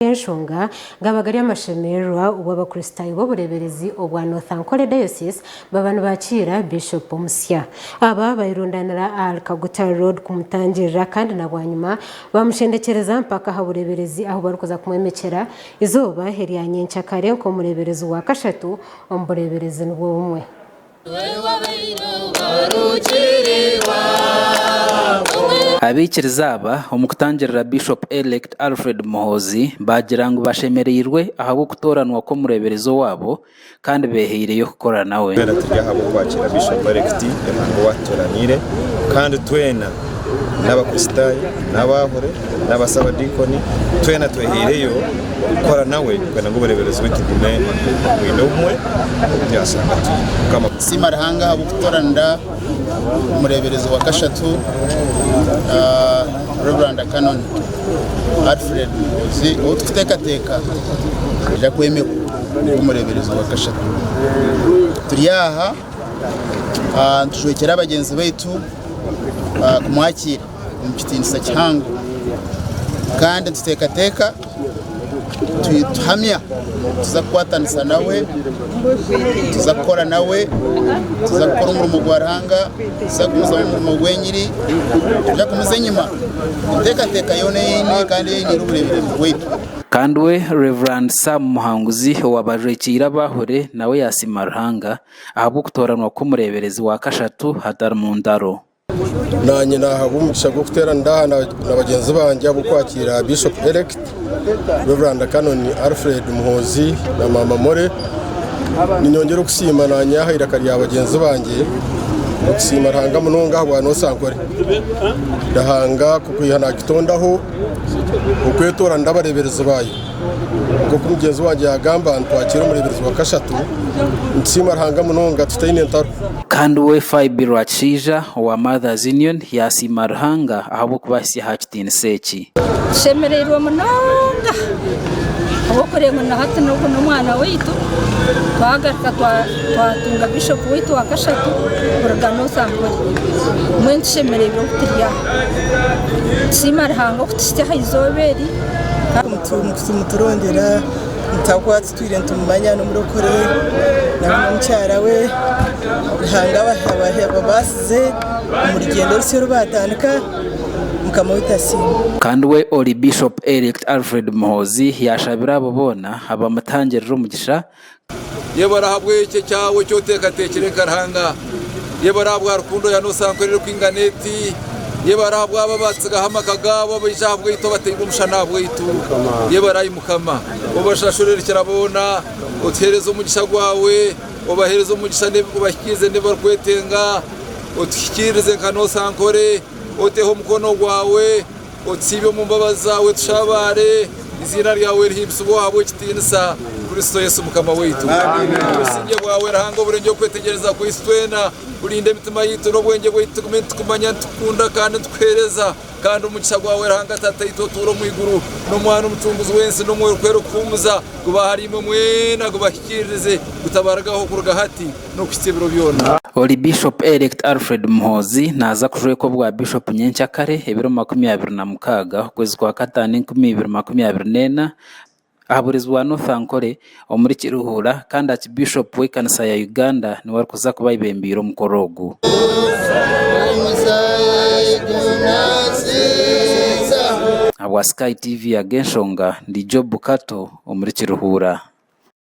Ahabw'enshonga gaba gari amashemererwa obu Abakristaayo b'obureeberezi obwa North Ankole Diocese baba nibakiira Bishop omusya. Aba bairundanira ahari Kaguta Road kumutangirira kandi na bwanyima bamushendekyereza mpaka aha bureeberezi ahu barikuza kumwomekyera eizooba erya nyenkyakare nk'omureeberezi wa kashatu omu bureeberezi nibwo bumwe. Abaikiriza aba omu kutangirira Bishop Elect Alfred Muhoozi baagira ngu bashemereirwe ahabw'okutooranwa kw'omureeberezi owaabo kandi beehaireyo kukora nawe. Twena turi aha bw'okwakira Bishop Elect Emango Owatutooraniire kandi twena n'abakristaayo n'abaahure n'abasaabadiikoni twena twehaireyo kukora nawe kwenda ngu obureeberezi bwaitu bugume bwine obumwe nk'oku yaashanga ati mukama Nsiima Ruhanga ahabw'okutoranira omureeberezi wa kashatu Rev Canon Alfred Muhoozi ou turikuteekateeka naija kwemerwa nk'omureeberezi wa kashatu turi aha nitujwekyera bagyenzi baitu kumwakiira omu kitiinisa kihango kandi nituteekateeka tuhamya nituza kukwatanisa nawe nituza kukora nawe nituza kukora omurimo gwa Ruhanga nituza kugumizamu omurimo gw'enyiri nituza kumuza enyima enteekateeka yoona eyine kandi eine obureeberezi bwaitu. Kandi we Rev Sam Muhanguzi owaabaajwekiire abaahure nawe yaasiima Ruhanga ahabw'okutooranwa kw'omureeberezi wa kashatu hatari mu ntaro. Naanye naahabwa omugisha gw'okuteerana ndi aha na bagyenzi bangye ahabw'okwakiira Bishop Elect Rev Canon Alfred Muhoozi na Maama Molly. Ninyongyera okusiima naanye aha iraka rya bagyenzi bangye okusiima Ruhanga munonga ahabwa Noosa Nkore. Ruhanga kukwiha naakitondaho okwetoorana ndi abareeberezi baayo. nk'oku mugyenzi wangye yaagamba ngu twakiire omureeberezi wa kashatu, nitusiima Ruhanga munonga tutaine ntaro. Kandi we Phoebe Rwakishaija owa Mother's Union yaasiima Ruhanga ahabw'okubahitsya aha kitiinisa eki. Tushemereirwe munonga ahabw'okureeba ngu na hati n'ogu n'omwana waitu. Twagaruka twatunga Bishop waitu wa kashatu kuruga North Ankole. Mbwenu tushemereirwe oku turi aha. Nitusiima Ruhanga okutuhitsya aha izooba eri. nitumurondera nitaho atutwire nitumumanya n'omurokore nari n'omukyara we ruhanga ababaasize omu rugyendo orusya oru baatandika mukama waitu asiimwe. Kandi we Ori Bishop Elect Alfred Muhoozi yashabira abo boona abamutangirira omugisha Yebare ahabw'ekyo kyaawe eki oteekateekire nka Ruhanga. Yebare ahabwa rukundo ya noosa nkora erikwingana eti. Yebare ahabw'abo abaatsigaho amaka gaabo abaija ahabwaitu abataine omushana ahabwaitu. Yebare ai Mukama. Obashashure erikira boona. Otuheereze omugisha gwaawe. Obaheereze omugisha obahikiirize n'ebi barikwetenga. Otuhikiirize nka noosa nkore. Oteho omukono gwaawe. Otusiibe omu mbabazi zaawe tushabaare, eiziina ryawe rihimbisibwe ahabw'ekitiinisa, Kristo Yesu Mukama waitu. Obusingye bwawe Ruhanga oburengye okwetegyereza kwaitu twena, burinde emitima yaitu n'obwengye bwaitu tugume nitukumanya, nitukukunda kandi nitukuheereza. Kandi omugisha gwawe Ruhanga Tataitu otuura omu iguru, n'Omwana Omucunguzi w'ensi, n'Omwoyo Orukwera Okuhuumuza, gube ahariimwe mwena, gubahikiiririze, gutabarugaho kuruga hati. n'okuhitsya ebiro byona. Ori Bishop Elect Alfred Muhoozi naaza kujwekwa obwa Bishop nyenkya kare ebiro makumi abiri na mukaaga okwezi kwa kataano enkumi ibiri makumi abiri n'ena aha bureezi bwa North Ankole omuri Kiruhura kandi Archbishop w'ekanisa ya Uganda niwe arikuza kuba ayebembeire omukoro ogu. Ahabwa Sky TV ag'enshonga ndi Job Kato omuri Kiruhura.